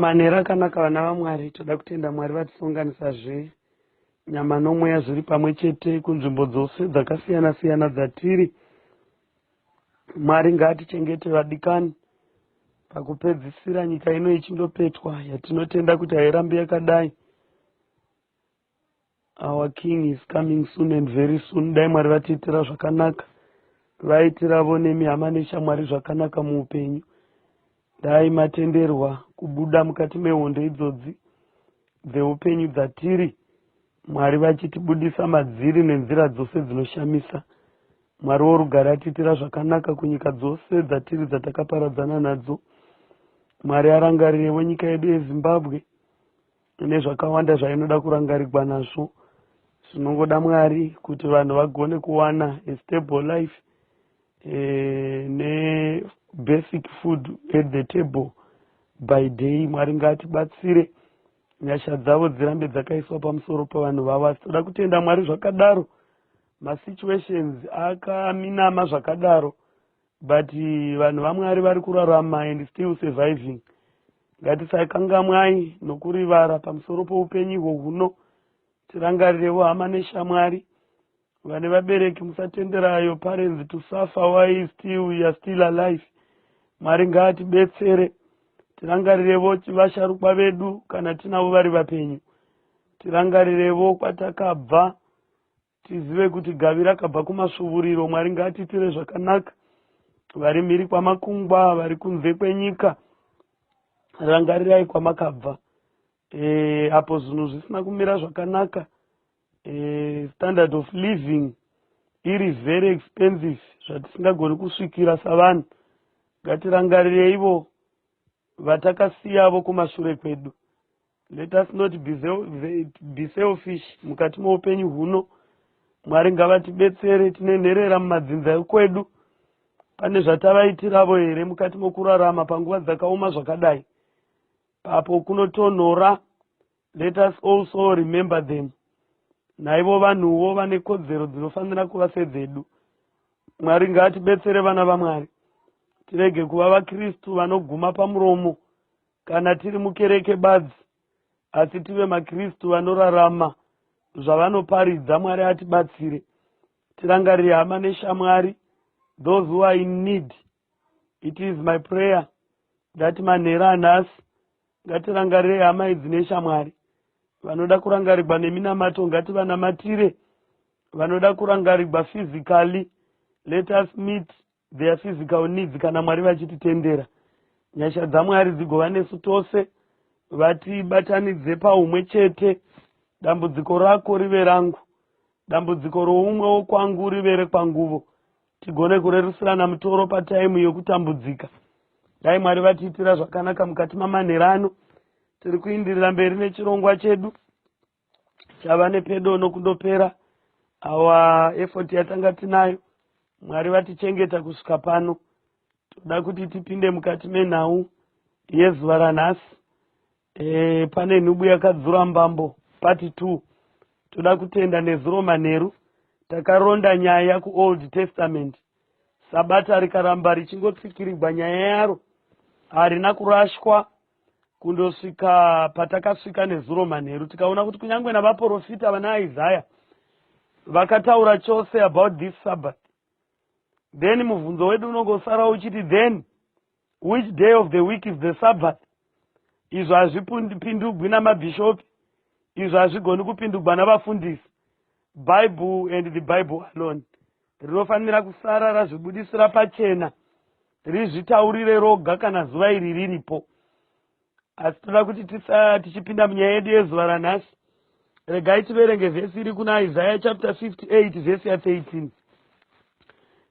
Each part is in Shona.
manhero akanaka vana vamwari toda kutenda mwari vatisonganisa zve nyama nomweya zviri pamwe chete kunzvimbo dzose dzakasiyana siyana dzatiri mwari ngaatichengete vadikani pakupedzisira nyika ino ichindopetwa yatinotenda kuti hairambi yakadai Our king is coming soon and very soon. Dai Mwari vatiitira zvakanaka. Vaitiravo nemi hama neshamwari zvakanaka muupenyu. Dai matenderwa kubuda mukati mehondo idzodzi dzeupenyu dzatiri. Mwari vachitibudisa madziri nenzira dzose dzinoshamisa. Mwari worugare atiitira zvakanaka kunyika dzose dzatiri dzatakaparadzana nadzo. Mwari arangarirevo nyika yedu yeZimbabwe. Ine zvakawanda zvainoda kurangarigwa nazvo. Tinongoda Mwari kuti vanhu vagone kuwana a stable life eh, ne basic food at the table by day. Mwari ngatibatsire nyasha dzavo dzirambe dzakaiswa pamusoro pavanhu vavo asi toda kutenda mwari zvakadaro masituations akaminama zvakadaro but vanhu vamwari vari kurarama and still surviving ngatisakangamwai nokurivara pamusoro poupenyu ihwo huno tirangarirevo hama neshamwari vane vabereki musatenderayo parents to suffer why still we are still alive mwari ngaatibetsere tirangarirevo vasharukwa vedu kana tinavo vari vapenyu tirangarirevo kwatakabva Tizive kuti gavi rakabva kumasvuvuriro. Mwari ngaatiitire zvakanaka. Vari mhiri kwamakungwa, vari kunze kwenyika, rangarirai kwamakabva. E, apo zvinhu zvisina kumira zvakanaka, e, standard of living iri very expensive zvatisingagoni kusvikira savanhu. Ngatirangarirei vo vatakasiyavo kumashure kwedu let us not be, be selfish mukati moupenyu huno mwari ngavatibetsere tine nherera mumadzinza ekwedu pane zvatavaitiravo here mukati mokurarama panguva dzakaoma zvakadai papo kunotonhora Let us also remember them. Naivo vanhuwo vane kodzero dzinofanira kuva sedzedu. Mwari ngaatibetsere vana vaMwari. Tirege kuva vaKristu vanoguma pamuromo kana tiri mukereke badzi, asi tive maKristu vanorarama zvavanoparidza. Mwari atibatsire. Tirangarire hama neshamwari, those who are in need. It is my prayer that manhera anhasi ngatirangarire hama idzi neshamwari vanoda kurangarigwa neminamato ngativanamatire vanoda kurangarigwa physically let us meet their physical needs kana mwari vachititendera nyasha dzamwari dzigova nesu tose vatibatanidze paumwe chete dambudziko rako rive rangu dambudziko roumwe wokwangu rive rekwanguvo tigone kurerusirana mutoro pataimu yokutambudzika dai mwari vatiitira zvakanaka mukati mamanhero ano tiri kuindirira mberi nechirongwa chedu chava nepedo nokundopera awa efoti yatanga tinayo mwari vatichengeta kusvika pano Toda kuti tipinde mukati menhau yezuva ranhasi. E, pane nhubu yakadzura mbambo pati two. Toda kutenda nezuro manheru takaronda nyaya kuold testament. Sabata rikaramba richingotsikirigwa nyaya yaro harina kurashwa kundosvika patakasvika nezuro manheru tikaona kuti kunyange navaporofita vana isaya vakataura chose about this sabbath then mubvunzo wedu unonge usara uchiti then which day of the week is the sabbath izvo hazvipindugwi namabhishopi izvo hazvigoni kupindugwa navafundisi bible and the bible alone rinofanira kusara razvibudisira pachena rizvitaurire roga kana zuva iri riripo Asi tinoda kuti tisa tichipinda munyaya yedu yezuva ranhasi, regai tiverenge vhesi iri kuna Isaya chapter 58 vhesi ya 13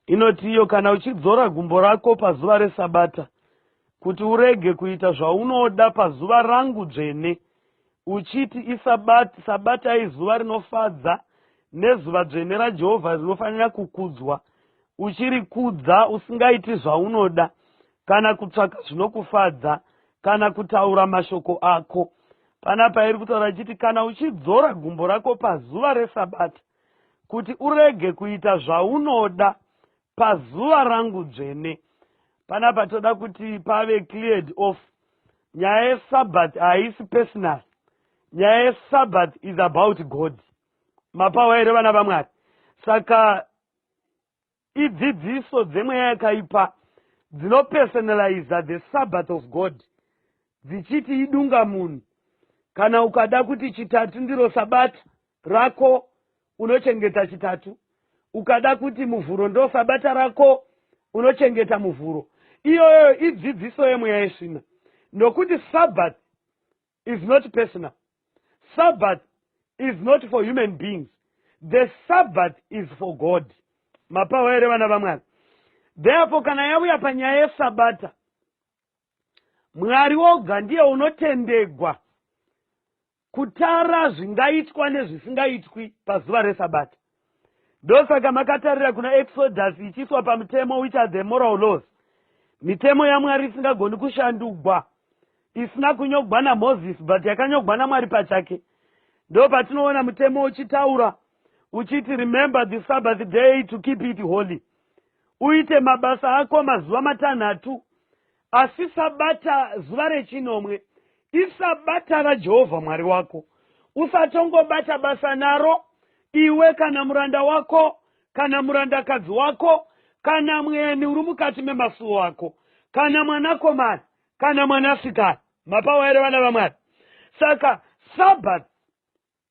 inoti iyo, kana uchidzora gumbo rako pazuva reSabata, kuti urege kuita zvaunoda pazuva rangu dzvene, uchiti isabata, sabata izuva rinofadza nezuva dzvene raJehovha rinofanira kukudzwa, uchirikudza usingaiti zvaunoda, kana kutsvaka zvinokufadza kana kutaura mashoko ako pana pairi kutaura ichiti kana uchidzora gumbo rako pazuva resabata kuti urege kuita zvaunoda pazuva rangu dzvene pana patoda kuti pave cleared off nyaya yesabat haisi personal nyaya yesabat is about god mapawa here vana vamwari saka Idzidziso dzemweya yakaipa dzinopersonaliza the sabbath of God dzichiti idunga munhu. Kana ukada kuti chitatu ndiro sabata rako unochengeta chitatu, ukada kuti muvhuro ndo sabata rako unochengeta muvhuro. Iyoyo idzidziso yemweya yesvina nokuti sabbath is not personal sabbath is not for human beings the sabbath is for god mapawa here vana vamwari therefore kana yauya panyaya yesabata mwari woga ndiye unotendegwa kutara zvingaitwa nezvisingaitwi pazuva resabata ndosaka makatarira kuna exodus ichiiswa pamutemo which are the moral laws mitemo yamwari isingagoni kushandugwa isina kunyogwa namoses but yakanyogwa namwari pachake ndo patinoona mutemo uchitaura uchiti remember the sabbath day to keep it holy uite mabasa ako mazuva matanhatu Asi Sabata, zuva rechinomwe, iSabata raJehovha Mwari wako. Usatongobata basa naro, iwe kana muranda wako, kana murandakadzi wako, kana mweni uri mukati memasuwo ako, kana mwanakomana, kana mwanasikana. Mapawa here vana vaMwari? Saka Sabata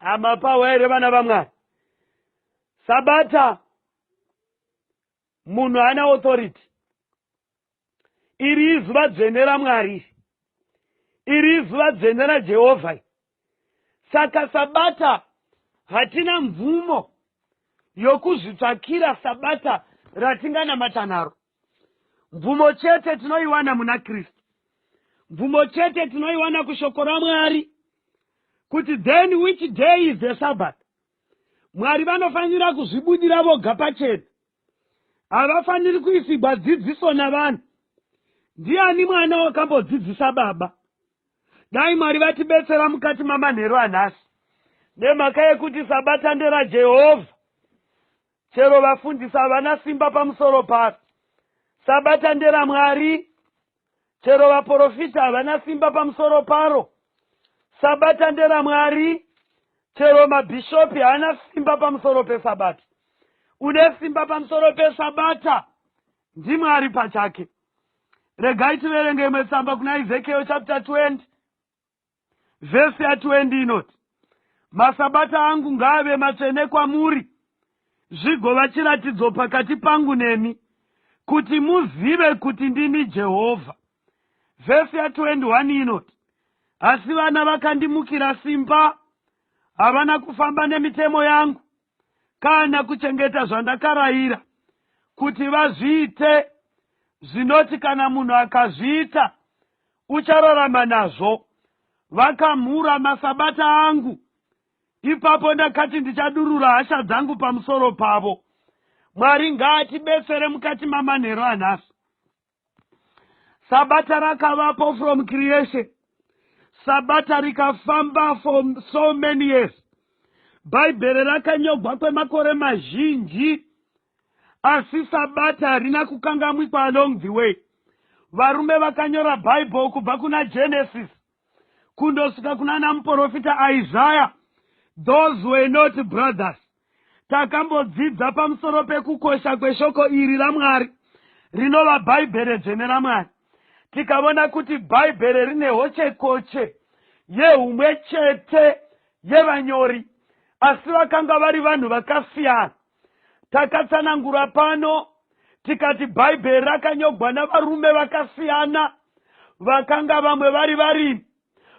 amapawa here vana vamwari sabata munhu ana authority iri izuva dzvene ramwari iri izuva dzvene rajehovha saka sabata hatina mvumo yokuzvitsvakira sabata ratinganamata naro mvumo chete tinoiwana muna kristu mvumo chete tinoiwana kushoko ramwari kuti then which day is the sabbath mwari vanofanira kuzvibudira voga pachena havafaniri kuisigwa dzidziso navanhu ndiani mwana wakambodzidzisa baba dai mwari vatibetsera mukati mamanheru anhasi nemhaka yekuti sabata nderajehovha Chero vafundisi havana simba pamusoro paro. Sabata nderaMwari. Chero vaporofita havana simba pamusoro paro. Sabata nderaMwari. Chero mabhishopi haana simba pamusoro peSabata. Une simba pamusoro peSabata ndiMwari pachake. Regai tiverenge imwe tsamba kuna Ezekiel chapter 20. vhesi yatwendi inoti masabata angu ngaave matsvene kwamuri zvigova chiratidzo pakati pangu nemi kuti muzive kuti ndini jehovha vhesi ya21 inoti asi vana vakandimukira simba havana kufamba nemitemo yangu kana kuchengeta zvandakarayira kuti vazviite zvinoti kana munhu akazviita uchararama nazvo vakamhura masabata angu ipapo ndakati ndichadurura hasha dzangu pamusoro pavo mwari ngaatibetsere mukati mamanhero anhasi sabata rakavapo from creation sabata rikafamba for so many years bhaibheri rakanyogwa kwemakore mazhinji asi sabata harina kukangamwikwa along the way varume vakanyora bhaibheri kubva kuna genesis kundosvika kuna namuporofita Isaya. Those were not brothers. Takambodzidza pamusoro pekukosha kweshoko iri raMwari rinova Bhaibheri dzvene raMwari. Tikavona kuti Bhaibheri rine hochekoche yehumwe chete yevanyori, asi vakanga vari vanhu vakasiyana. takatsanangura pano tikati bhaibheri rakanyogwa navarume vakasiyana vakanga vamwe vari varimi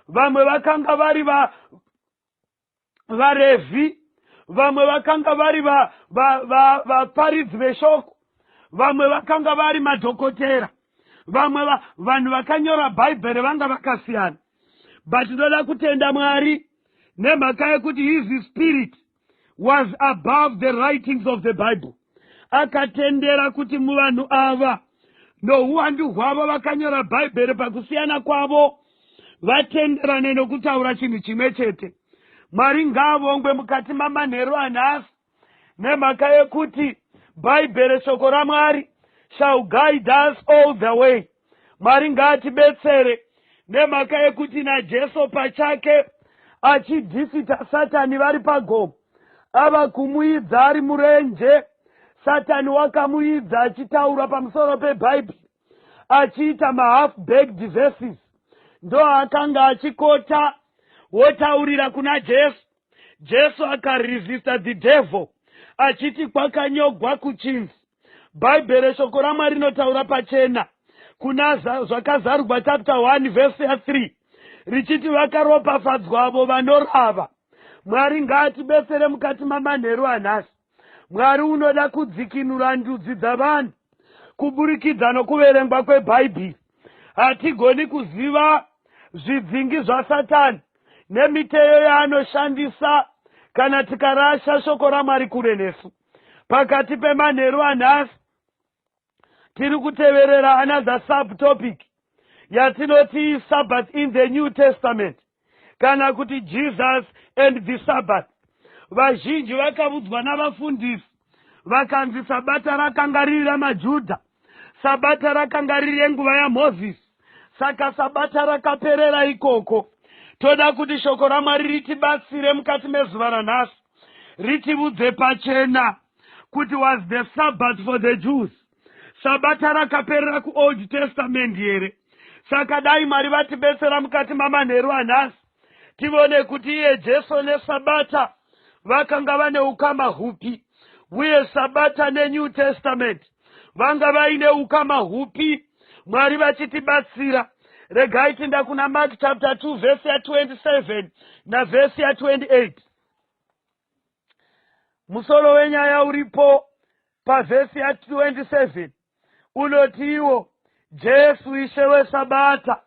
vamwe vakanga vari va, varevhi vamwe vakanga vari vaparidzi veshoko vamwe vakanga vari madhokotera vamwe vanhu vakanyora bhaibheri vanga vakasiyana but ndoda kutenda mwari nemhaka yekuti hizi spirit was above the writings of the bible akatendera kuti muvanhu ava nouwandu hwavo vakanyora bhaibheri pakusiyana kwavo vatenderane nokutaura chinhu chimwe chete mwari ngaavongwe mukati mamanheru anhasi nemhaka yekuti bhaibheri shoko ramwari shall guide us all the way Mwari ngaatibetsere nemhaka yekuti naJesu pachake achidhifita Satani vari pagomo ava kumuidza ari murenje. Satani wakamuidza achitaura pamusoro peBhaibheri achiita mahalf baked verses ndoakanga achikota wotaurira kuna Jesu. jesu akaresista the devil achiti kwakanyogwa kuchinzi bhaibheri shoko ramwari rinotaura pachena kuna zvakazarugwa chapter 1 vhesi ya 3 richiti vakaropafadzwa avo vanorava mwari ngaatibesere mukati mamanheru anhasi mwari unoda kudzikinura ndudzi dzavanhu kuburikidza nokuverengwa kwebhaibheri hatigoni kuziva zvidzingi zvasatani nemiteyo yaanoshandisa kana tikarasha shoko ramwari kure nesu pakati pemanheru anhasi tiri kuteverera another subtopic yatinoti sabbath in the new testament kana kuti jesus and the sabbath vazhinji vakavudzwa navafundisi vakanzi sabata rakanga riri ramajudha sabata rakanga riri yenguva yamozisi saka sabata rakaperera ikoko toda kuti shoko ramwari ritibatsire mukati mezuva ranhasi ritivudze pachena kuti was the sabbath for the jews sabata rakaperera kuold testament here saka dai mwari vatibetsera mukati mamanheru anhasi tivone kuti iye jesu nesabata vakanga vane ukama hupi uye sabata nenew testament vanga vaine ukama hupi mwari vachitibatsira regai tinda kuna mark chapter 2 vhesi ya 27 navhesi ya 28 musoro wenyaya uripo pavhesi ya 27 unotiwo jesu ishe wesabata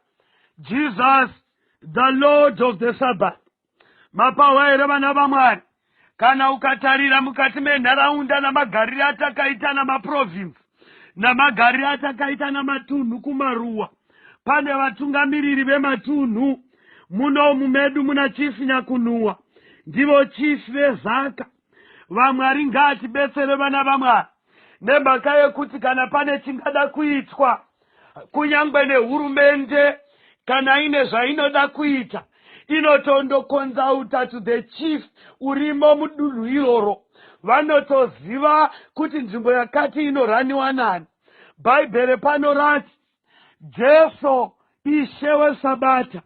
jesus the lord of the sabbath mapahwa here vana vamwari kana ukatarira mukati menharaunda namagarire atakaita namaprovinsi namagariro atakaita namatunhu kumaruwa pane vatungamiriri vematunhu munomu medu muna chief nyakunhuwa ndivo chief vezaka vamwari ngaatibetsere vana vamwari nemhaka yekuti kana pane chingada kuitwa kunyangwe nehurumende kana ine zvainoda kuita inotondokonzauta to the chief urimo mudunhu iroro vanotoziva kuti nzvimbo yakati inoraniwa nani bhaibheri pano rati jesu ishe wesabata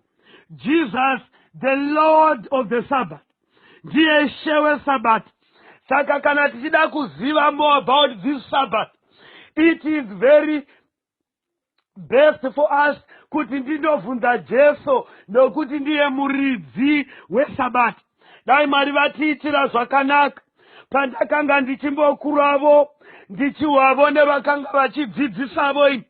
jesus the lord of the sabbath ndiye ishe wesabata saka kana tichida kuziva more about this sabbath it is very best for us kuti ndinobvunza jesu nokuti ndiye muridzi wesabata dai mwari vatiitira zvakanaka pandakanga ndichimbokuravo ndichiwavo nevakanga vachidzidzisavo ini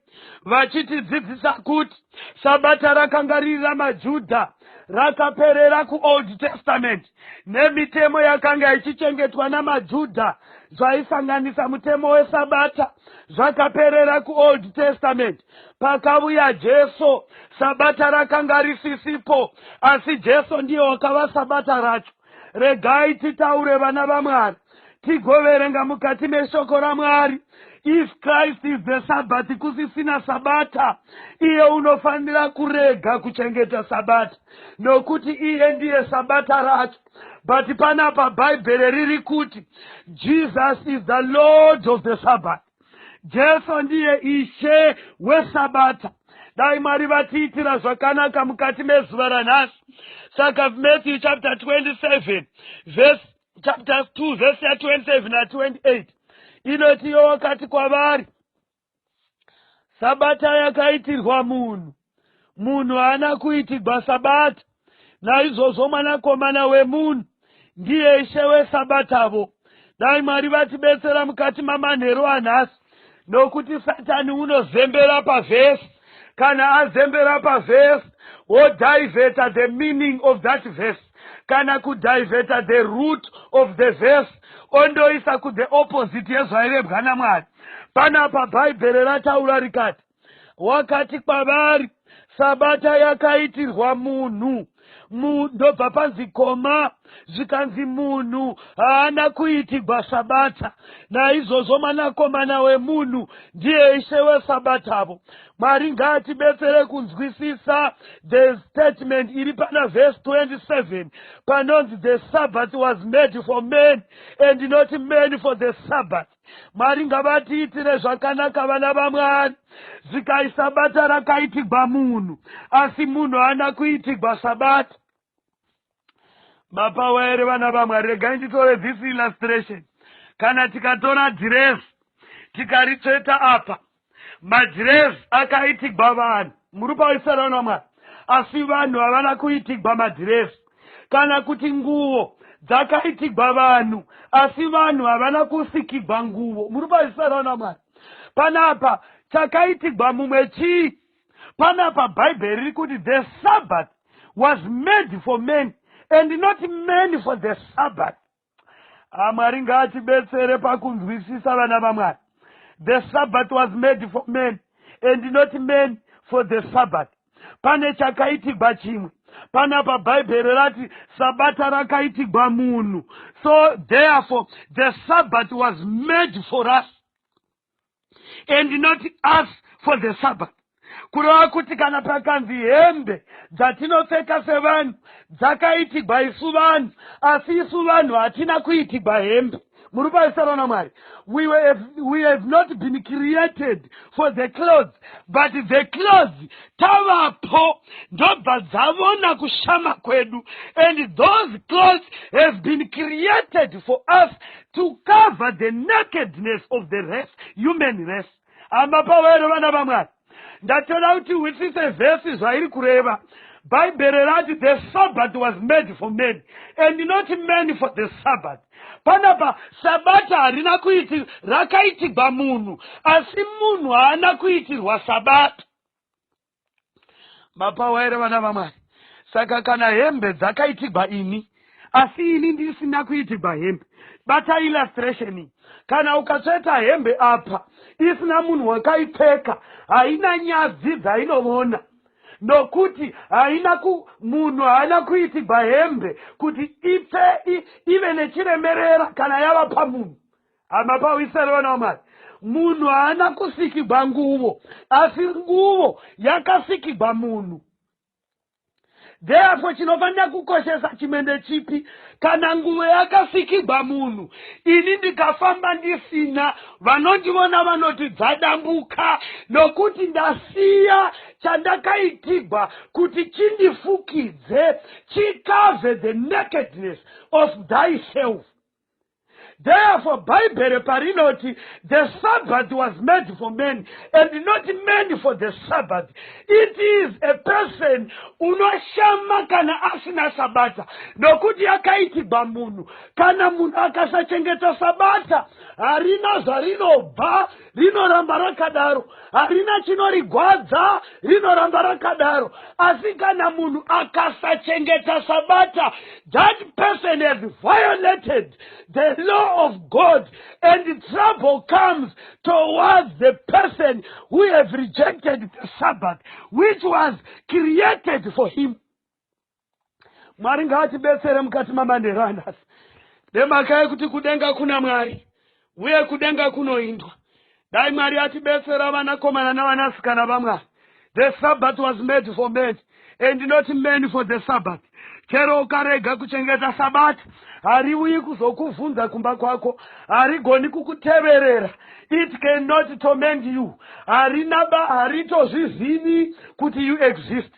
vachitidzidzisa kuti sabata rakanga riri ramajudha rakaperera kuold testament nemitemo yakanga ichichengetwa namajudha zvaisanganisa mutemo wesabata zvakaperera kuold testament pakavuya jesu sabata rakanga risisipo asi jesu ndiye wakava sabata racho regai titaure vana vamwari tigoverenga mukati meshoko ramwari if christ is the sabbath kusisina sabata iye unofanira kurega kuchengeta sabata nokuti iye ndiye sabata racho but panapa bhaibheri riri kuti jesus is the lord of the sabbath jesu ndiye ishe wesabata dai mwari vatiitira zvakanaka mukati mezuva ranhasi saka matthew chapter 27 verse chapter 2 verse ya 27 na 28 inoti iye wakati kwavari sabata yakaitirwa munhu munhu haana kuitigwa sabata naizvozvo mwanakomana wemunhu ndiye ishe wesabatavo dai mwari vatibetsera mukati mamanheru anhasi nokuti satani unozembera pavhesi kana azembera pavhesi wodivheta the meaning of that verse kana kudivheta the root of the verse ondoisa kuthe opposite yezvairebwa namwari panapa bhaibheri rataura rikati wakati kwavari sabata yakaitirwa munhu ndobva panzi koma zvikanzi munhu haana kuitigwa sabata naizvozvo mwanakomana wemunhu ndiye ishe wesabatavo mwari ngaatibetsere kunzwisisa the statement iri pana vhesi 27 panonzi the sabbath was made for man and not man for the sabbath mwari ngavatiitire zvakanaka vana vamwari zikai sabata rakaitigwa munhu asi munhu ana kuitigwa sabata mapawa here vana vamwari regai nditore this illustration kana tikatora dhiresi tikaritsveta apa Madhirezi akaitigwa vanhu murupa wesarano wamwari asi vanhu havana kuitigwa madhirezi kana kuti nguvo dzakaitigwa vanhu asi vanhu havana kusikigwa nguvo murupa wesarano wamwari panapa chakaitigwa mumwe chii panapa bhaibheri riri kuti the sabbath was made for men and not men for the sabbath Ah, mwari ngaatibetsere pakunzwisisa vana vamwari the sabbath was made for men and not men for the sabbath pane chakaitigwa chimwe panapa bhaibheri rati sabata rakaitigwa munhu so therefore the sabbath was made for us and not us for the sabbath kureva kuti kana pakanzi hembe dzatinopfeka sevanhu dzakaitigwa isu vanhu asi isu vanhu hatina kuitigwa hembe muri paisara namwari we, we have not been created for the clothes but the clothes tavapo ndobva dzavona kushama kwedu and those clothes have been created for us to cover the nakedness of the race human race hama pawero vana vamwari ndatoda kuti witise vhesi zvairi kureva bhaibheri rati the sabbath was made for men and not men for the sabbath panapa sabata harina kuiti rakaitirwa munhu asi munhu haana kuitirwa sabata mapawa here vana vamwari saka kana hembe dzakaitigwa ini asi ini ndisina kuitigwa hembe bata illustration iyi kana ukatsveta hembe apa isina munhu wakaipfeka haina nyadzi dzainovona nokuti haina ku munhu haana kuitigwa hembe kuti ipfe ive nechiremerera kana yava pamunhu hama pawisere vana vamwari munhu haana kusikigwa nguvo asi nguvo yakasikigwa munhu therefore chinofanira kukoshesa chimwe ndechipi kana nguvo yakasikigwa munhu ini ndikafamba ndisina vanondivona vanoti dzadambuka nokuti ndasiya chandakaitigwa kuti chindifukidze chikave the nakedness of thyself Therefore, Bible parinoti the Sabbath was made for men and not men for the Sabbath. It is a person unoshama kana asina sabata nokuti yakaitigwa munhu. Kana munhu akasachengeta sabata harina zvarinobva rinoramba rakadaro harina chinorigwadza rinoramba rakadaro asi kana munhu akasachengeta sabata that person has violated the law of god and trouble comes towards the person who has rejected the sabbath which was created for him mwari ngaatibetsere mukati mabandero anhasi nemhaka yekuti kudenga kuna mwari uye kudenga kunoindwa dai mwari atibetsera vanakomana navanasikana vamwari the sabbath was made for men and not men for the sabbath chero ukarega kuchengeta sabata hariuyi kuzokuvhunza kumba kwako harigoni kukuteverera it cannot torment you harina ba haritozvizivi kuti you exist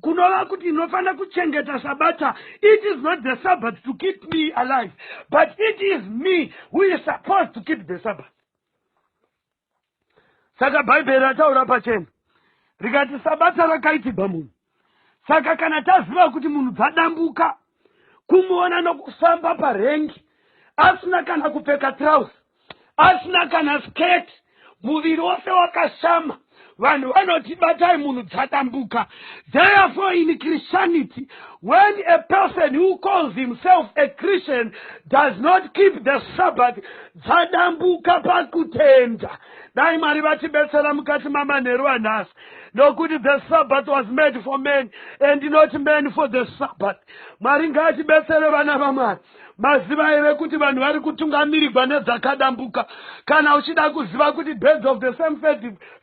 kunova kuti ndinofanira kuchengeta sabata it is not the sabbat to keep me alive but it is me who is supposed to keep the sabbat saka bhaibheri rataura pachena rikati sabata rakaitigwa munhu saka kana taziva kuti munhu dzadambuka kumuona nokufamba parengi asina kana kupfeka trousi asina kana skirt muviri wose wakashama vanhu vanoti batai munhu dzadambuka therefore in christianity when a person who calls himself a christian does not keep the sabbath dzadambuka pakutenda dai mwari vatibetsera mukati mamanheru anhasi nokuti the sabbath was made for man and not man for the sabbath mwari ngaatibetsere vana vamwari Maziva here kuti vanhu vari kutungamirigwa nedzakadambuka? Kana uchida kuziva kuti birds of the same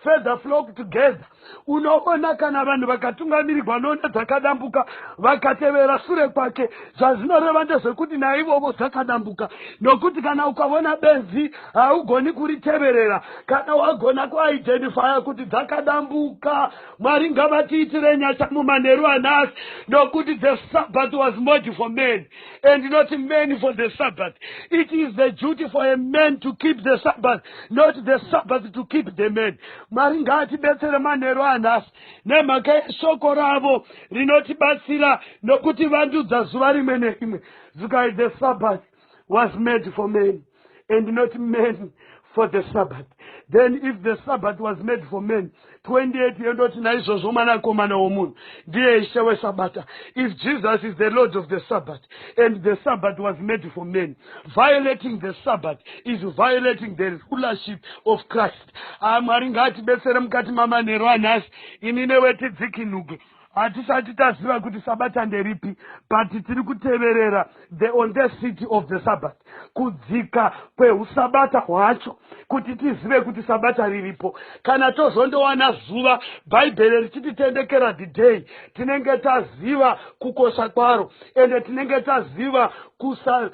feather flock together, unoona kana vanhu vakatungamirigwa none dzakadambuka vakatevera sure kwake, zvazvinoreva ndezvekuti naivovo dzakadambuka. Nokuti kana ukavona benzi haugoni kuriteverera, kana wagona kuidentifya kuti dzakadambuka. Mwari ngavatiitire nyasha mumanheru anasi, nokuti the sabbath was made for man. and not men for the sabbath it is the duty for a man to keep the sabbath not the sabbath to keep the man mwari ngaatibetsere manheru anhasi nemhaka yeshoko ravo rinotibatsira nokuti vandudza zuva rimwe nerimwe zukai the sabbath was made for men and not men for the sabbath then if the sabbath was made for men 28 yendoti naizvozvo mwanakomana womunhu ndiye ishe wesabata if jesus is the lord of the sabbath and the sabbath was made for men violating the sabbath is violating the rulership of christ ah, mwari ngaatibetsere mukati mamanhero anhasi ini newetidzikinuke hatisati taziva kuti sabata nderipi but tiri kuteverera the on the city of the sabbat kudzika kweusabata hwacho kuti tizive kuti sabata riripo kana tozondowana zuva bhaibheri richititendekera the day tinenge taziva kukosha kwaro ende tinenge taziva kusa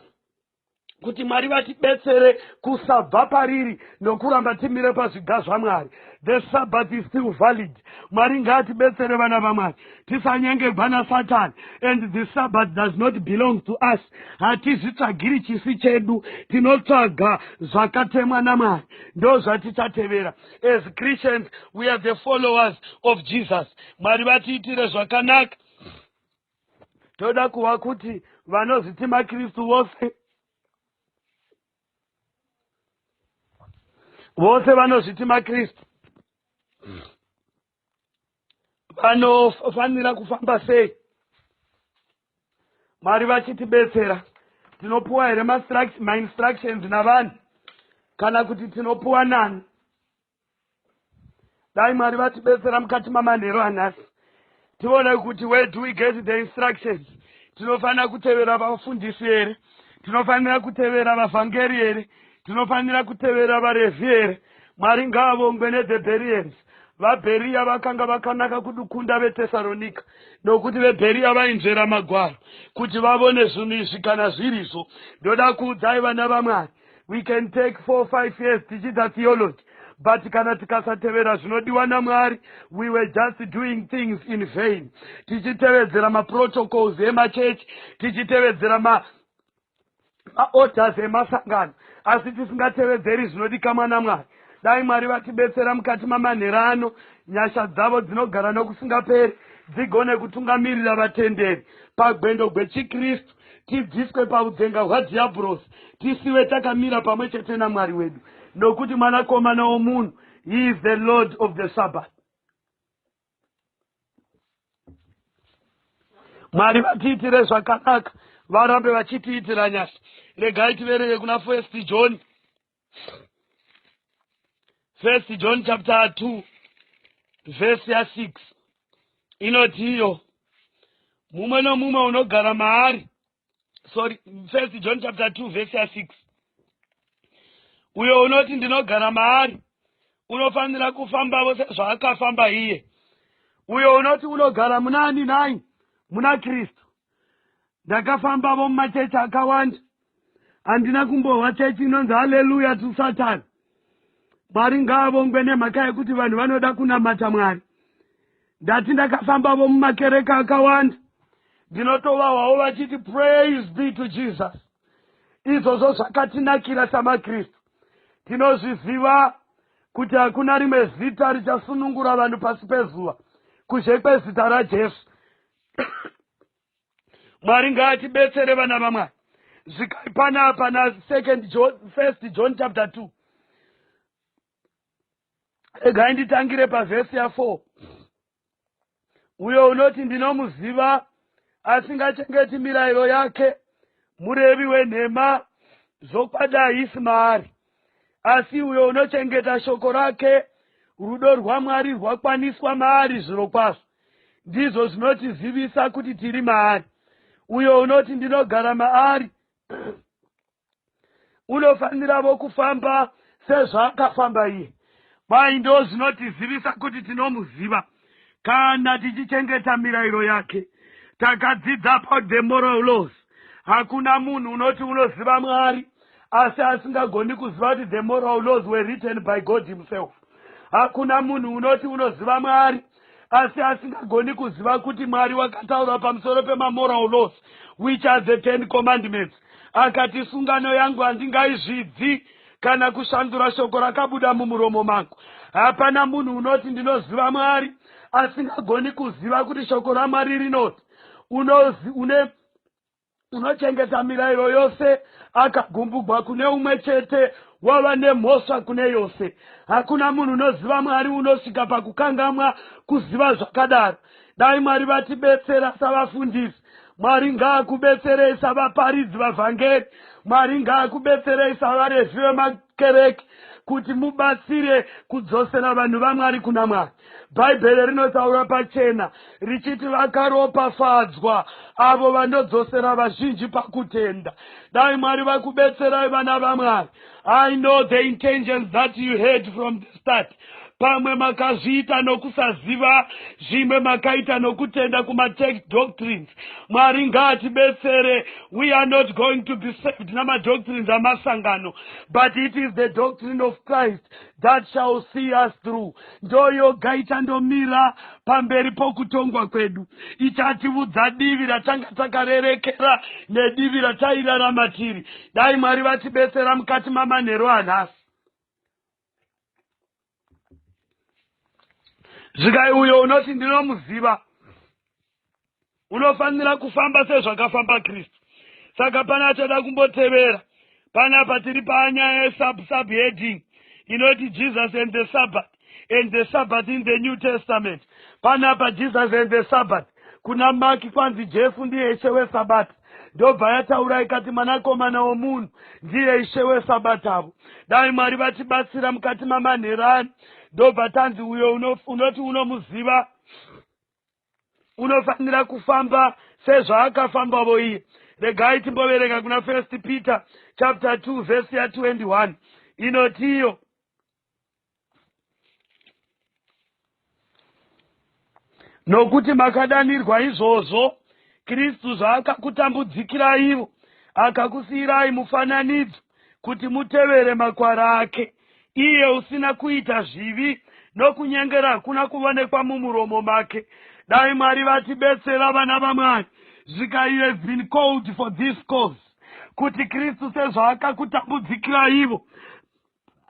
kuti mwari vatibetsere kusabva pariri nokuramba timire pazviga zvamwari the sabbath is still valid mwari ngaatibetsere vana vamwari tisanyengerwa nasatani and the sabbath does not belong to us hatizvitsvagiri chisi chedu tinotsvaga zvakatemwa namwari ndo zvatichatevera as christians we are the followers of jesus mwari vatiitire zvakanaka toda kuva kuti vanozviti makristu vose vose vanozviti makristu vanofanira kufamba sei mwari vachitibetsera tinopuwa here mainstructions navanhu kana kuti tinopuwa nani dai mwari vatibetsera mukati mamanhero anhasi tione kuti where do we get the instructions tinofanira kutevera vafundisi here tinofanira kutevera vavhangeri here tinofanira kutevera varevhi here mwari ngaavongwe nethe berians vabheriya vakanga vakanaka kudukunda vetesaronika nokuti vebheriya vainzvera magwaro kuti vavone zvinhu izvi kana zvirizvo ndoda kuudzai vana vamwari we can take four five years tichiita theology but kana tikasatevera zvinodiwa namwari we were just doing things in vain tichitevedzera maprotocols emachechi tichitevedzera ma maorders emasangano asi tisingatevedzeri zvinodikamwa namwari dai mwari vatibetsera mukati mamanhera ano nyasha dzavo dzinogara nokusingaperi dzigone kutungamirira vatenderi pagwendo gwechikristu tibviswe paudzenga hwadhiyabhurosi tisiwe takamira pamwe chete namwari wedu nokuti mwanakomana womunhu he is the lord of the sabbath mwari vatiitire zvakanaka varambe vachitiitira nyasha regai tivereve kuna first john first john chapter 2 vhesi ya6 inoti iyo mumwe nomumwe unogara maari sorry first john chapter 2 vhesi ya6 uyo unoti ndinogara maari unofanira kufambavo sezvaakafamba iye uyo unoti unogara munani nai muna kristu ndakafambavo mumachechi akawanda handina kumbohwa chechi inonzi haleluya to satan mwari ngaavongwe nemhaka yekuti vanhu vanoda kunamata mwari ndati ndakafambavo mumakereka akawanda ndinotovahwawo vachiti praise be to jesus izvozvo zvakatinakira samakristu tinozviziva kuti hakuna rimwe zita richasunungura vanhu pasi pezuva kuzhe kwezita rajesu mwari ngaatibetsere vana vamwari zvikai panapa nasecond first john chapter 2 regai nditangire pavhesi ya4 uyo unoti ndinomuziva asingachengeti mirayiro yake murevi wenhema zvokwadi haisi maari asi uyo unochengeta shoko rake rudo rwamwari rwakwaniswa maari zvirokwazvo ndizvo zvinotizivisa kuti tiri maari uyo unoti ndinogara maari unofaniravo kufamba sezvaakafamba iye Kwai ndozvinotizivisa kuti tinomuziva kana tichichengeta mirairo yake. Takadzidza about the moral laws. Hakuna munhu unoti unoziva Mwari asi asingagoni kuziva kuti the moral laws were written by God himself. Hakuna munhu unoti unoziva Mwari asi asingagoni kuziva kuti Mwari wakataura pamusoro pemamoral laws which are the ten commandments akati sungano yangu handingaizvidzi kana kushandura shoko rakabuda mumuromo mangu hapana munhu unoti ndinoziva Mwari asingagoni kuziva kuti shoko raMwari rinoti une unochengeta mirayiro yose akagumbugwa kune umwe chete wava nemhosva kune yose hakuna munhu unoziva mwari unosvika pakukangamwa kuziva zvakadaro dai mwari vatibetsera savafundisi mwari ngaakubetserei savaparidzi vavhangeri mwari ngaakubetserei savarevi vemakuhani kereke kuti mubatsire kudzosera vanhu vaMwari kuna Mwari. Bhaibheri rinotaura pachena richiti vakaropafadzwa avo vanodzosera vazhinji pakutenda. Dai Mwari vakubetserai vana vaMwari. I know the intentions that you had from the start. Pamwe makazviita nokusaziva, zvimwe makaita nokutenda kumatech doctrines. Mwari ngaatibetsere. We are not going to be saved namadoctrines amasangano, but it is the doctrine of Christ that shall see us through. Ndoyoga ichandomira pamberi pokutongwa kwedu, ichatiudza divi ratanga takarerekera nedivi ratairarama tiri. Dai Mwari vatibetsera mukati mamanheru anhasi. zvikai uyo unoti ndinomuziva unofanira kufamba sezvakafamba kristu saka pane achada kumbotevera panapa tiri panyaya yesubsubheading inoti jesus and the sabbath and the sabbath in the new testament panapa jesus and the sabbath kuna maki kwanzi jesu ndiye ishe wesabata ndobva yataura ikati mwanakomana womunhu ndiye ishe wesabatavo dai mwari vatibatsira mukati mamanherani ndobva tanzi uyo unoti unomuziva unofanira kufamba sezvaakafambavo iye regai timboverenga kuna first peter chapter 2 vhesi ya 21 inotiyo nokuti makadanirwa izvozvo kristu zvaakakutambudzikiraivo akakusiyirai mufananidzo kuti mutevere makwara ake iye usina kuita zvivi nokunyengera hakuna kuvonekwa mumuromo make dai mwari vatibetsera vana vamwari zvika you have been called for this cause kuti kristu sezvaakakutambudzikiraivo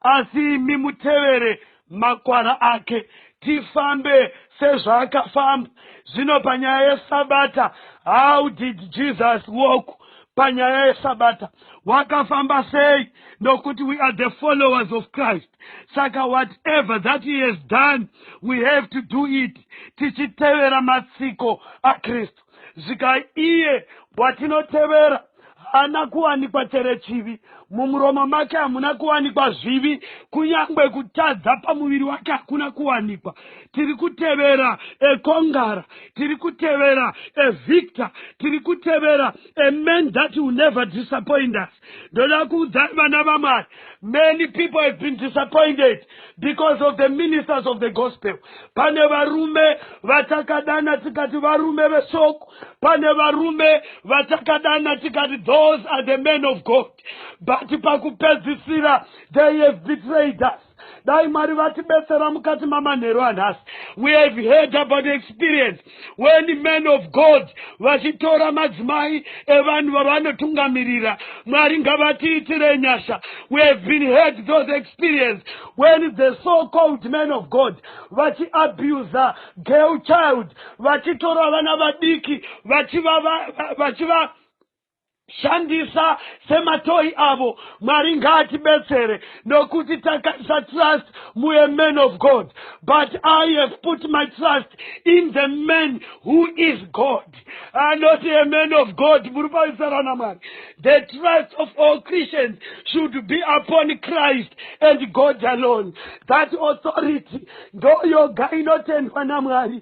Asi imi mutevere makwara ake. Tifambe sezvaakafamba. Zvino panyaya yeSabata, how did Jesus walk panyaya yeSabata? Wakafamba sei? Nokuti we are the followers of Christ. Saka whatever that he has done, we have to do it, tichitevera matsiko aKristu. zvika iye watinotevera haana kuwanikwa chere chivi mumuromo make hamuna kuwanikwa zvivi kunyange kutadza pamuviri wake hakuna kuwanikwa tiri kutevera ekongara tiri kutevera evictor tiri kutevera aman that will never disappoint us ndoda kuudzai vana vamwari many people have been disappointed because of the ministers of the gospel pane varume vatakadana tikati varume vesoko pane varume vatakadana tikati those are the men of god but pakupedzisira they have betrayed us dai mwari vatibetsera mukati mamanheru anhasi we have heard about the experience when men of god vachitora madzimai evanhu vavanotungamirira mwari ngavatiitire nyasha we have been heard those experience when the so called men of god vachiabusa girl child vachitora vana vadiki vachiva vachiva shandisa sematoyi avo mwari ngaatibetsere nokuti takaisa trust muye man of god but i have put my trust in the man who is god uh, not a man of god muri paisarana mwari the trust of all christians should be upon christ and god alone that authority ndoyoga inotendwa namwari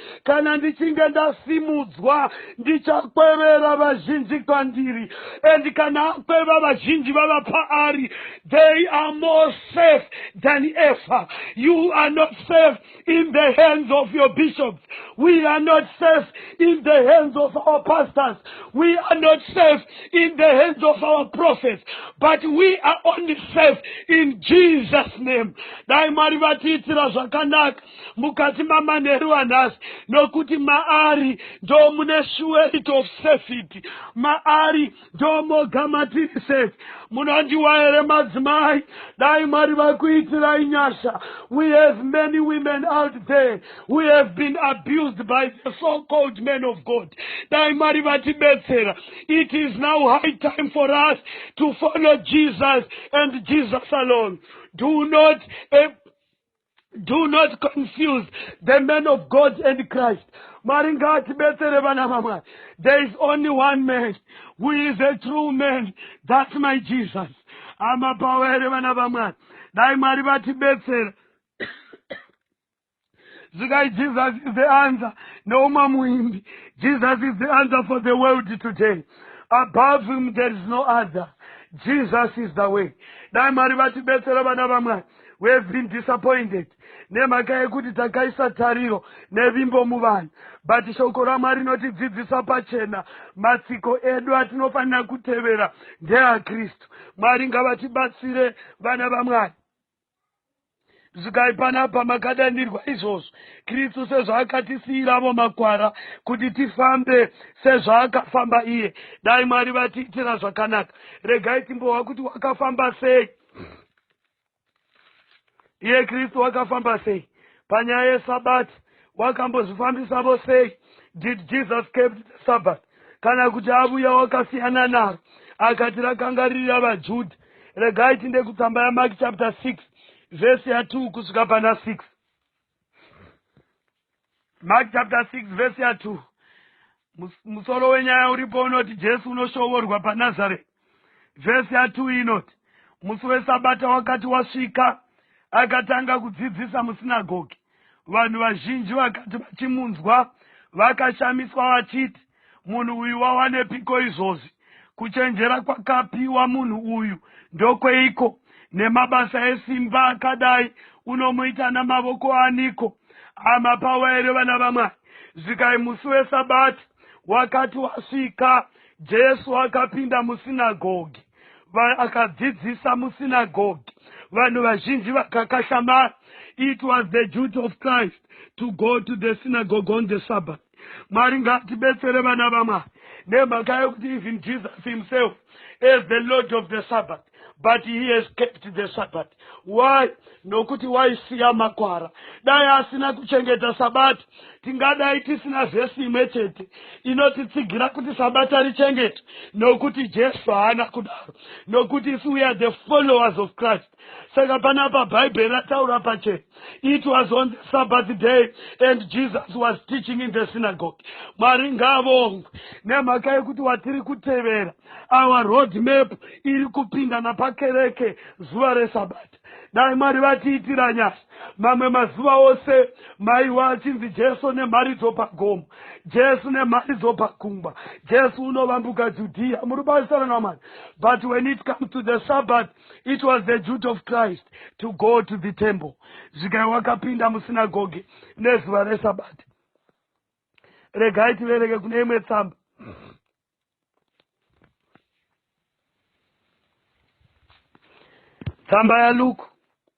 kana ndichinge ndasimudzwa ndichakwevera vazhinji kwandiri and kana akweva vazhinji vava paari they are more safe than ever you are not safe in the hands of your bishops we are not safe in the hands of our pastors we are not safe in the hands of our prophets but we are only safe in jesus name dai mwari vatiitira zvakanaka mukati mamanheru anhasi nokuti maari ndo mune shuerit of safety maari ndo moga matiri safe munondiwa here madzimai dai mwari vakuitirai nyasha we have many women out there who have been abused by the so called man of god dai mwari vatibetsera it is now high time for us to follow jesus and jesus alone do not do not confuse the man of god and christ mwari ngaatibetsere vana vamwari there is only one man who is a true man that's my jesus amapawa here vana vamwari dai mwari vatibetsera zikai jesus is the answer noumwe muimbi jesus is the answer for the world today above him there is no other jesus is the way dai mwari vatibetsera vana vamwari we have been disappointed nemhaka yekuti takaisa tariro nevimbo muvanhu but shoko ramwari rinotidzidzisa pachena matsiko edu atinofanira kutevera ndeakristu mwari ngavatibatsire vana vamwari zvikai panapa makadanirwa izvozvo kristu sezvaakatisiyiravo makwara kuti tifambe sezvaakafamba iye dai mwari vatiitira zvakanaka regai timbohwa kuti wakafamba sei iye kristu wakafamba sei panyaya yesabati wakambozvifambisavo sei did jesus kept the sabbath kana kuti avuya wakasiyana naro akati rakanga riri ravajudha regai tinde kutsamba yamaki chapter 6 vhesi ya2 kusvika pana 6 mark chapter 6 vhesi ya 2 musoro wenyaya uripo unoti jesu unoshovorwa panazareti vhesi ya 2 inoti musi wesabata wakati wasvika akatanga kudzidzisa musinagogi vanhu vazhinji vakati vachimunzwa vakashamiswa vachiti Munhu uyu wawanepiko izvozvi? Kuchenjera kwakapiwa munhu uyu ndokweiko? Nemabasa esimba akadai unomuita namavoko aniko? Hama pawa here vana vamwari? Zvikai musi wesabati wakati wasvika, Jesu akapinda musinagogi akadzidzisa musinagogi vanhu vazhinji vakakashamara it was the duty of christ to go to the synagogue on the sabbath mwari ngatibetsere vana vamwari nemhaka yekuti even jesus himself as the lord of the sabbath but he has kept the sabbath why nokuti waisiya makwara dai asina kuchengeta sabata tingadai tisina vhesi imwe chete inotitsigira kuti sabata richengete nokuti jesu haana kudaro nokuti isu we are the followers of christ Saka panapa Bhaibheri rataura pache. It was on the Sabbath day and Jesus was teaching in the synagogue. Mwari ngavongwe nemhaka yekuti watiri kutevera our road map iri kupinda napakereke zuva resabata. Dai Mwari vatiitira nyasha. Mamwe mazuva ose maiwa achinzi Jesu nemharidzo pagomo, Jesu nemharidzo pakumba, Jesu unovambuka Judea. Muri basa rana Mwari. But when it comes to the Sabbath, it was the duty of christ to go to the temple zvikai wakapinda musinagoge nezuva resabati regai tivereke kune imwe tsamba tsamba yaluku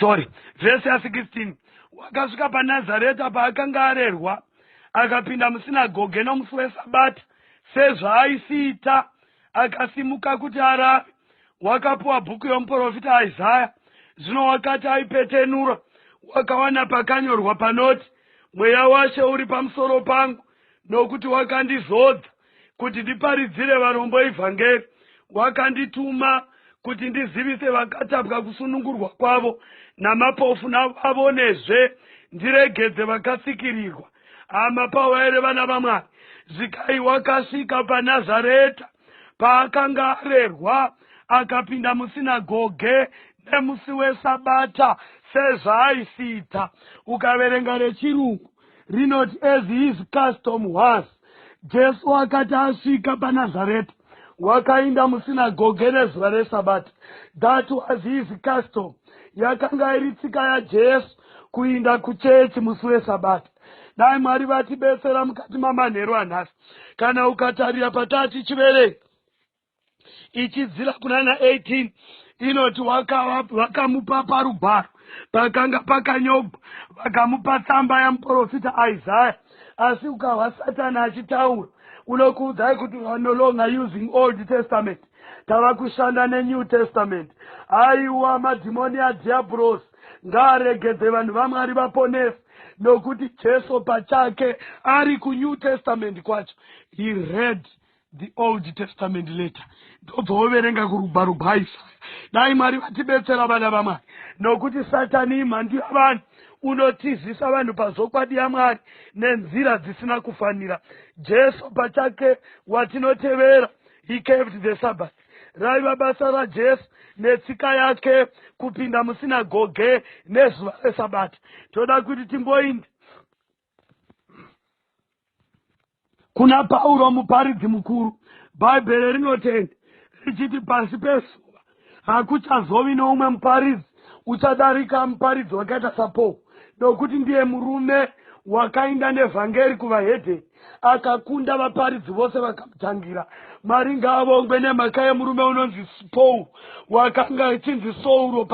sorry vhesi ya 16 wakasvika panazareta paakanga arerwa akapinda musinagoge nomusi wesabata sezvaaisiita akasimuka kuti arare wakapuwa bhuku yomuprofita isaya zvino wakati aipetenura wakawana pakanyorwa panoti mweya washe uri pamusoro pangu nokuti wakandizodza kuti ndiparidzire varombo evhangeri, wakandituma kuti ndizivise vakatapwa kusunungurwa kwavo, namapofu navavonezve, ndiregedze vakasikirirwa. Hama pawere vana vaMwari, Zikai wakasvika paNazareta paakanga arerwa, akapinda musinagoge nemusi wesabata sezvaaisiita. Ukaverenga rechirungu rinoti as his custom was. Jesu wakati asvika paNazareth, wakainda musinagoge rezuva reSabata. That was his custom. Yakanga iri tsika yaJesu kuinda kuchechi musi weSabata. Dai Mwari vatibetsera mukati mamanheru anhasi kana ukatarira pataa tichiverenga. ichidzira kunana 18 inoti vakamupa parugwaro pakanga pakanyogwa vakamupa tsamba yamuprofita isaya asi ukahwa satani achitaura unokuudzai kuti are no longer using old testament tava kushanda nenew testament aiwa madhimoni adhiabhurosi ngaaregedze vanhu vamwari vaponesi nokuti jesu pachake ari kunew testament kwacho he read the old testament letter ndodzoverenga kurugwaro rwaisaya dai mwari vatibetsera vana vamwari nokuti satani imhandu yavanhu unotizisa vanhu pazvokwadi yamwari nenzira dzisina kufanira jesu pachake watinotevera he kept the sabbath raiva basa rajesu netsika yake kupinda musinagoge nezuva resabata toda kuti timboinda kuna pauro muparidzi mukuru bhaibheri rinotenda richiti pasi pezuva hakuchazovi noumwe muparidzi uchadarika muparidzi wakaita sapaul nokuti ndiye murume wakainda nevhangeri kuvahedheni akakunda vaparidzi vose vakamutangira mwari ngaavongwe nemhaka yemurume unonzi paul wakanga achinzi sauro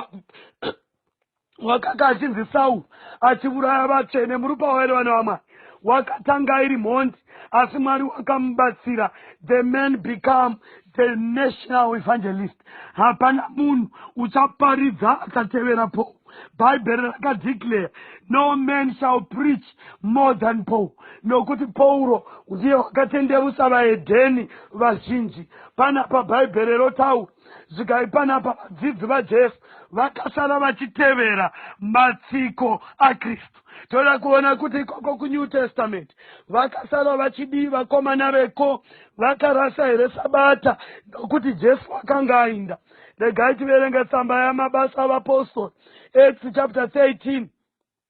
wakanga achinzi Sauru achivuraya vatsvene murupa waive vana vamwari wakatanga iri mhondi asi mwari wakamubatsira the man become the national evangelist hapana munhu uchaparidza akatevera paul bhaibheri rakadeclare no man shall preach more than paul nokuti pauro ndiye wakatendevusa vaedheni vazhinji panapa bhaibheri rotaura Svikai panapa, vadzidzi vaJesu vakasara vachitevera matsiko aKristu. Toda kuona kuti ikoko kuNew Testament vakasara vachidii vakomana veko, vakarasa here Sabata nokuti Jesu akanga ainda. Regai tiverenge tsamba yamabasa avapostori, Acts chapter 13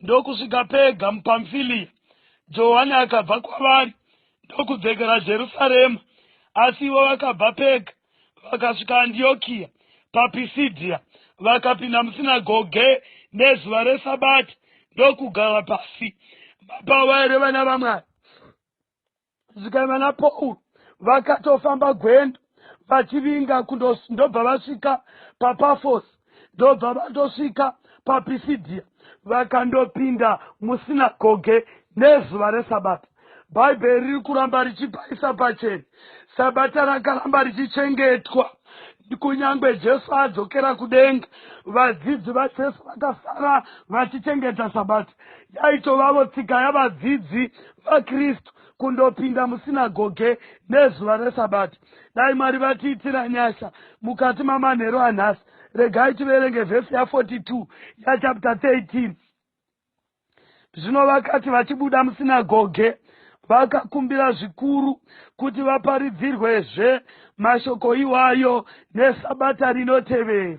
ndokusvika Pega muPamfiliya. Johani akabva kwavari ndokudzekera Jerusarema, asi ivo vakabva Pega vakasvika Andiyokiya paPisidhiya, vakapinda musinagoge nezuva reSabata ndokugara pasi. Mapavaere vana vaMwari. Vasikana na Paul vakatofamba gwendo vachivinga kundos- ndobva vasvika paPafos ndobva vandosvika paPisidhia vakandopinda musinagoge nezuva reSabata. Bhaibheri riri kuramba richipaisa pachena Sabata rakaramba richichengetwa kunyange Jesu adzokera kudenga. Vadzidzi vaJesu vakasara vachichengeta Sabata. yaitovavo tsika yavadzidzi vakristu kundopinda musinagoge nezuva resabata dai mwari vatiitira nyasha mukati mamanheru anhasi regai tiverenge vhesi ya 42 yachapta 13 zvino vakati vachibuda musinagoge vakakumbira zvikuru kuti vaparidzirwezve mashoko iwayo nesabata rinotevera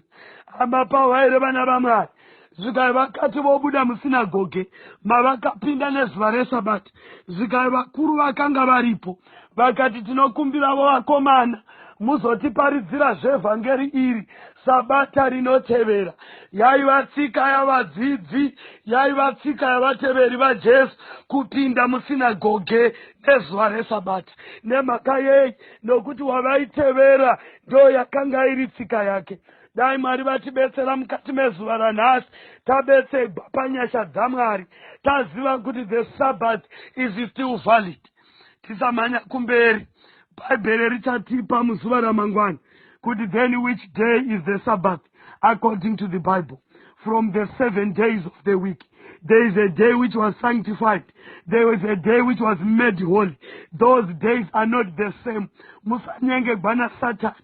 hama pavo vaireva navamwari Zvikai vakati vobuda musinagoge mavakapinda nezuva resabati, zvikai vakuru vakanga varipo vakati, Tinokumbiravo vakomana muzotiparidzira zvevhangeri iri sabata rinotevera. Yaiva tsika yavadzidzi, yaiva tsika yavateveri vaJesu kupinda musinagoge nezuva resabati. Nemhaka yei? Nokuti wavaitevera ndoyakanga iri tsika yake. dai mwari vatibetsera mukati mezuva ranhasi tabetsegwa panyasha dzamwari taziva kuti the sabbath is still valid tisamhanya kumberi bhaibheri richatipa muzuva ramangwana kuti then which day is the sabbath according to the bible from the seven days of the week there is a day which was sanctified there was a day which was made holy those days are not the same musanyengegwa nasatani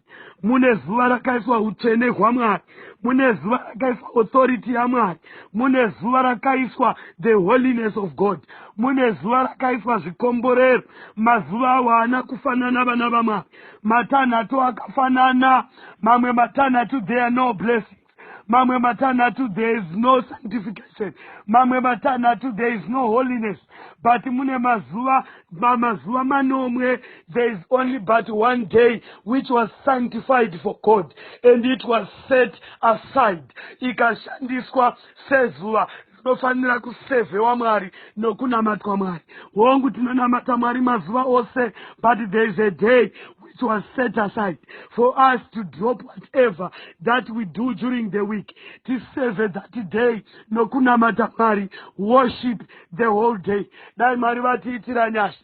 mune zuva rakaiswa utsvene hwamwari mune zuva rakaiswa authority yamwari mune zuva rakaiswa the holiness of god mune zuva rakaiswa zvikomborero mazuva awo haana kufanana vana vamwari matanhatu akafanana mamwe matanhatu there no blessing mamwe matanhatu there is no sanctification mamwe matanhatu there is no holiness but mune mazuva mazuva manomwe there is only but one day which was sanctified for god and it was set aside ikashandiswa sezuva tinofanira kusevhewa mwari nokunamatwa mwari hongu tinonamata mwari mazuva ose but there is a day which was set aside for us to drop whatever that we do during the week tiseve that day nokunamata mwari worship the whole day dai mwari vatiitira nyasha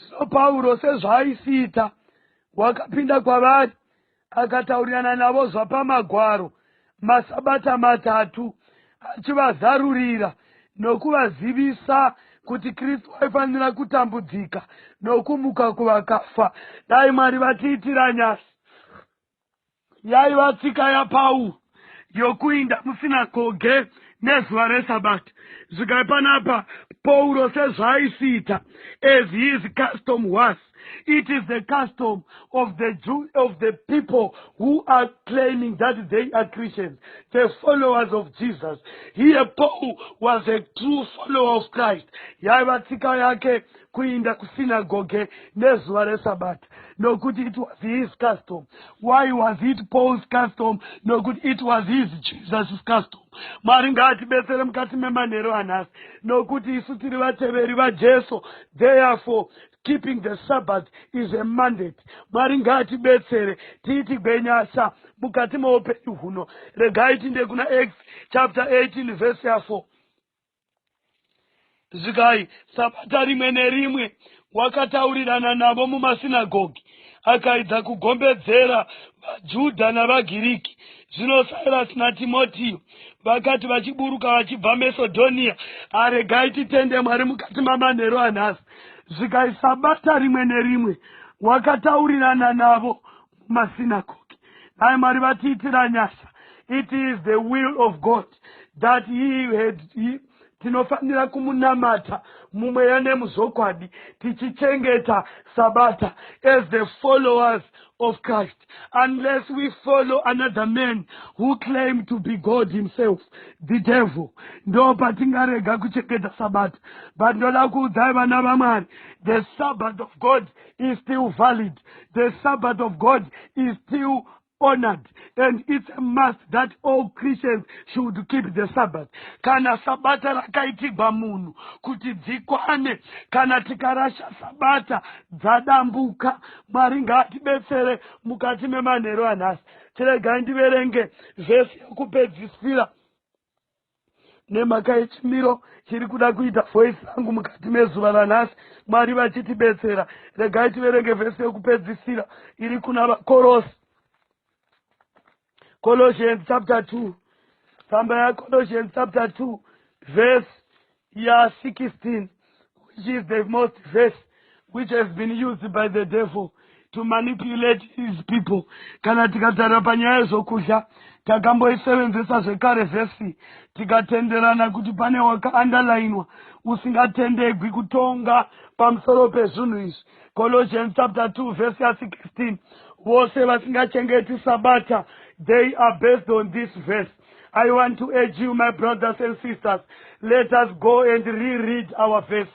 Zvino Pauro sezvaaisiita, wakapinda kwavari, akataurirana navo zvapaMagwaro masabata matatu, achivazarurira nokuvazivisa kuti Kristu aifanira kutambudzika nokumuka kuvakafa. Dai Mwari vatiitira nyasha. yaiva tsika yapaul yokuinda musinagoge nezuva resabata zvigai panapa pauro sezvaaisiita as his custom was it is the custom of the jew of the people who are claiming that they are christians the followers of jesus here paul was a true follower of christ yaiva tsika yake kuinda kusinagoge nezuva resabata nokuti it was his custom why was it paul's custom nokuti it was his jesus's custom mwari ngaatibetsere mukati memanhero anhasi nokuti isu tiri vateveri vajesu therefore keeping the sabbath is a mandate mwari ngaatibetsere tiiti gwenyasa mukati meupenyu huno regai tinde kuna x chapter 18 vese ya 4 zvikai sabata rimwe nerimwe wakataurirana navo mumasinagogi akaidza kugombedzera vajudha navagiriki zvino sirasi natimotiyo vakati vachiburuka vachibva mesodhoniya aregai titende mwari mukati mamanheru anhasi zvikai sabata rimwe nerimwe wakataurirana navo kumasinagogi dai mwari vatiitira nyasha it is the will of god that he had he, tinofanira kumunamata mumweya nemuzvokwadi tichichengeta sabata as the followers of christ unless we follow another man who claim to be god himself the devil ndo patingarega kuchengeta sabata but ndoda kuudzai vana vamwari the sabbath of god is still valid the sabbath of god is still honored and it's a must that all christians should keep the sabbath kana sabata rakaitigwa munhu kuti dzikwane kana tikarasha sabata dzadambuka mwari ngaatibetsere mukati memanhero anhasi tiregai ndiverenge vhesi yekupedzisira nemhaka yechimiro chiri kuda kuita voice yangu mukati mezuva ranhasi mwari vachitibetsera regai tiverenge vhesi yekupedzisira iri kuna vakorosi colossians chapter 2 tsamba yacolossians chapter 2 vhesi ya 16 which is the most verse which has been used by the devil to manipulate his people kana tikatarira panyaya yezvokudya takamboisevenzesa zvekare vhesi tikatenderana kuti pane wakaandalainwa usingatendegwi kutonga pamusoro pezvinhu izvi colossians chapter 2 vhesi ya 16 vose vasingachengeti sabata they are based on this verse I want to urge you, my brothers and sisters, let us go and reread our verse.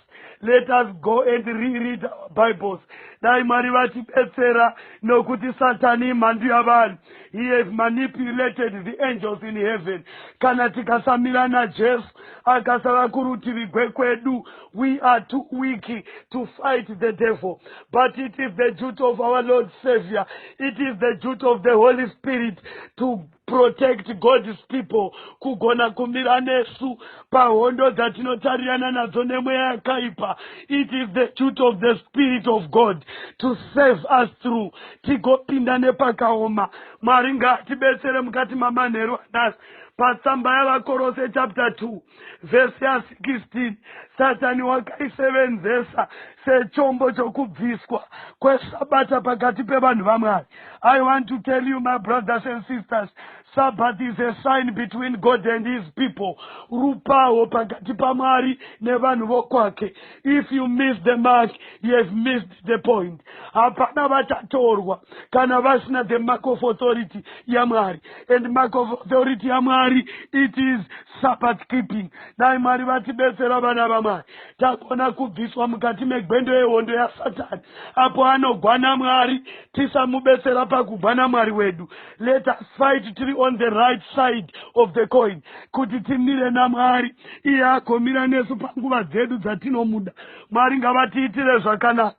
Let us go and reread our Bibles. Dai Mwari vatibetsera nokuti Satani imhandu yavanhu. He has manipulated the angels in heaven. Kana tikasamira naJesu akasava kurutivi gwekwedu, we are too weak to fight the devil. But it is the duty of our Lord Savior. It is the duty of the Holy Spirit to Protect God's people kugona kumira nesu pahondo dzatinotarirana nadzo nemweya yakaipa. It is the duty of the Spirit of God to save us through tigopinda nepakaoma. Mwari ngaatibetsere mukati mamanheru anhasi patsamba yavakorose chapter 2. vhesi ya 16 satani wakaisevenzesa sechombo chokubviswa kwesabata pakati pevanhu vamwari i want to tell you my brothers and sisters sabbath is a sign between god and his people rupawo pakati pamwari nevanhu vokwake if you miss the mark you have missed the point hapana vachatorwa kana vasina the mark of authority yamwari and mark of authority yamwari it is sabbath keeping dai mwari vatibetsera vana vamwari tagona kubviswa mukati megwendo yehondo yasatani apo anogwana mwari tisamubetsera pakugwana mwari wedu let us fight tiri on the right side of the coin kuti timire namwari iye agomira nesu panguva dzedu dzatinomuda mwari ngavatiitire zvakanaka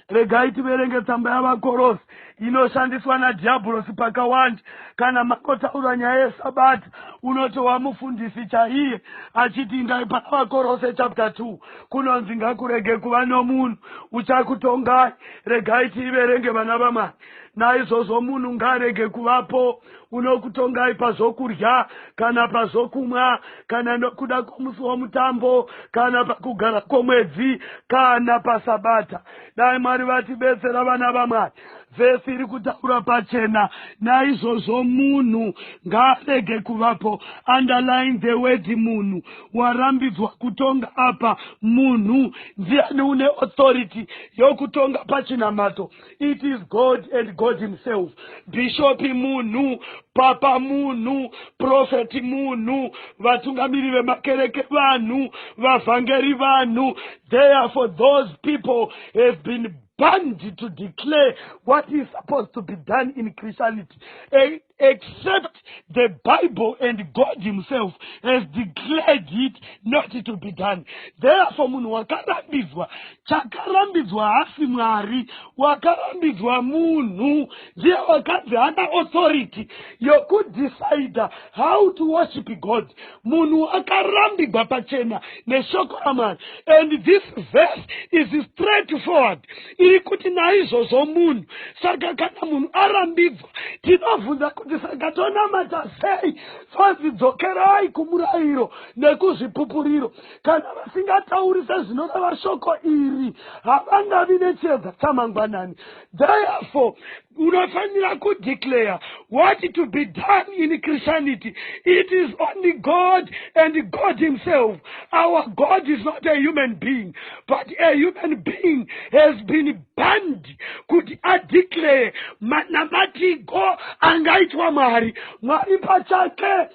regai tiverenge tsamba yavakorosi inoshandiswa nadhiabhurosi pakawanda kana makotaura nyaya yesabata unotowa mufundisi chaiye achiti indai pana vakorose chapter 2 kunonzi ngakurege kuva nomunhu uchakutongai regai tiiverenge vana vamwari naizvozvo munhu ngaarege kuvapo unokutongai pazvokudya kana pazvokumwa kana nokuda kwomusi womutambo kana pakugara kwomwedzi kana pasabata dai mwari vatibetsera vana vamwari vhesi iri kutaura pachena naizvozvo munhu ngaarege kuvapo underline the word munhu warambidzwa kutonga apa munhu ndiani une authority yokutonga pachinamato it is god and god himself bishopi munhu papa munhu profeti munhu vatungamiri vemakereke vanhu vavhangeri vanhu therefore those people have been banned to declare what is supposed to be done in christianity a except the Bible and God himself has declared it not to be done. Therefore, munhu wakarambidzwa, chakarambidzwa hasi Mwari, wakarambidzwa munhu, ndiye wakanzi hana authority yokudecide how to worship God. munhu akarambigwa pachena neshoko ramwari and this verse is straight forward iri kuti naizvozvo munhu saka kana munhu arambidzwa tinobvunza kuti saka tonamata sei fanzi dzokerai kumurayiro nekuzvipupuriro kana vasingatauri sezvinoreva shoko iri havangavi nechiedza chamangwanani therefore unofanira kudeclare what to be done in christianity it is only god and god himself our god is not a human being but a human being has been banned kuti adeclare manamatiko angaitwa mwari mwari pachake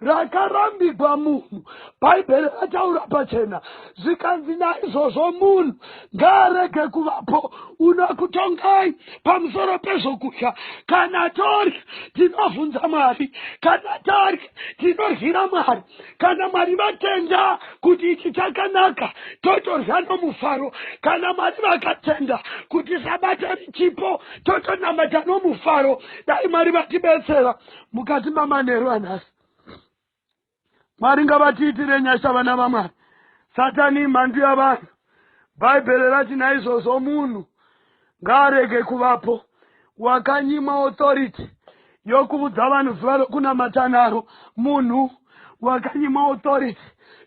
rakarambigwa munhu bhaibheri rataura pachena zvikanzi naizvozvo munhu ngaarege kuvapo unokutongai pamusoro pezvokudya kana tori tinobvunza mwari kana tari tinoryira mwari kana mwari vatenda kuti ichi chakanaka totorya nomufaro kana mwari vakatenda kuti sabata richipo totonamata nomufaro dai mwari vatibetsera mukati mamanheru anhasi mwari ngavatiitire nyasha vana vamwari satani imhandu yavanhu bhaibheri rati naizvozvo munhu ngaarege kuvapo wakanyimwa authority yokuudza vanhu zuva rokunamata naro munhu wakanyimwa authority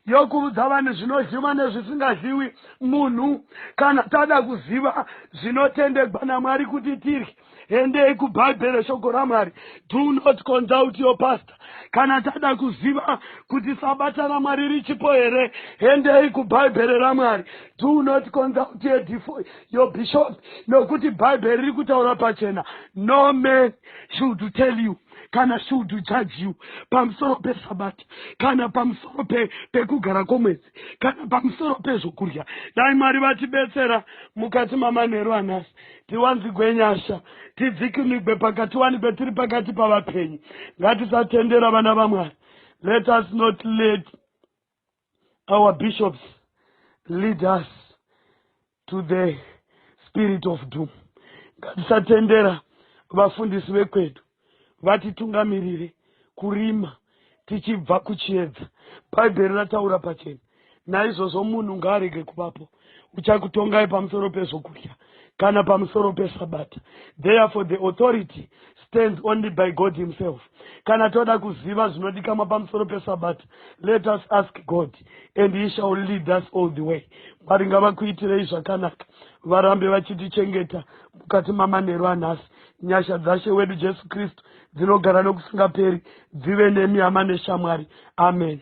yokuudza vanhu zvinodyiwa nezvisingadyiwi munhu kana tada kuziva zvinotendegwa namwari kuti tirye endei kubhaibheri shoko ramwari do not consult your pastor kana tada kuziva kuti sabata ramwari richipo here endei kubhaibheri ramwari do not consult your bishop nokuti bhaibheri riri kutaura pachena no man should tell you kana should judge you pamusoro pesabata kana pamusoro pekugara kwomwedzi kana pamusoro pezvokudya dai mwari vatibetsera mukati mamanheru anhasi tiwanzigwe nyasha tidzikinigwe pakatiwanigwe tiri pakati pavapenyu ngatisatendera vana vamwari let us not let our bishops lead us to the spirit of doom ngatisatendera vafundisi vekwedu vatitungamirire kurima tichibva kuchiedza. Bhaibheri rataura pachena. Naizvozvo munhu ngaarege kuvapo uchakutongai pamusoro pezvokudya kana pamusoro pesabata. Therefore the authority stands only by God himself. Kana toda kuziva zvinodikamwa pamusoro pesabata, let us ask God and he shall lead us all the way. Mwari ngavakuitirei zvakanaka, varambe vachitichengeta mukati mamanheru anhasi. Nyasha dzaShe wedu Jesu Kristu dzinogara nokusingaperi dzive nemi hama neshamwari. Ameni.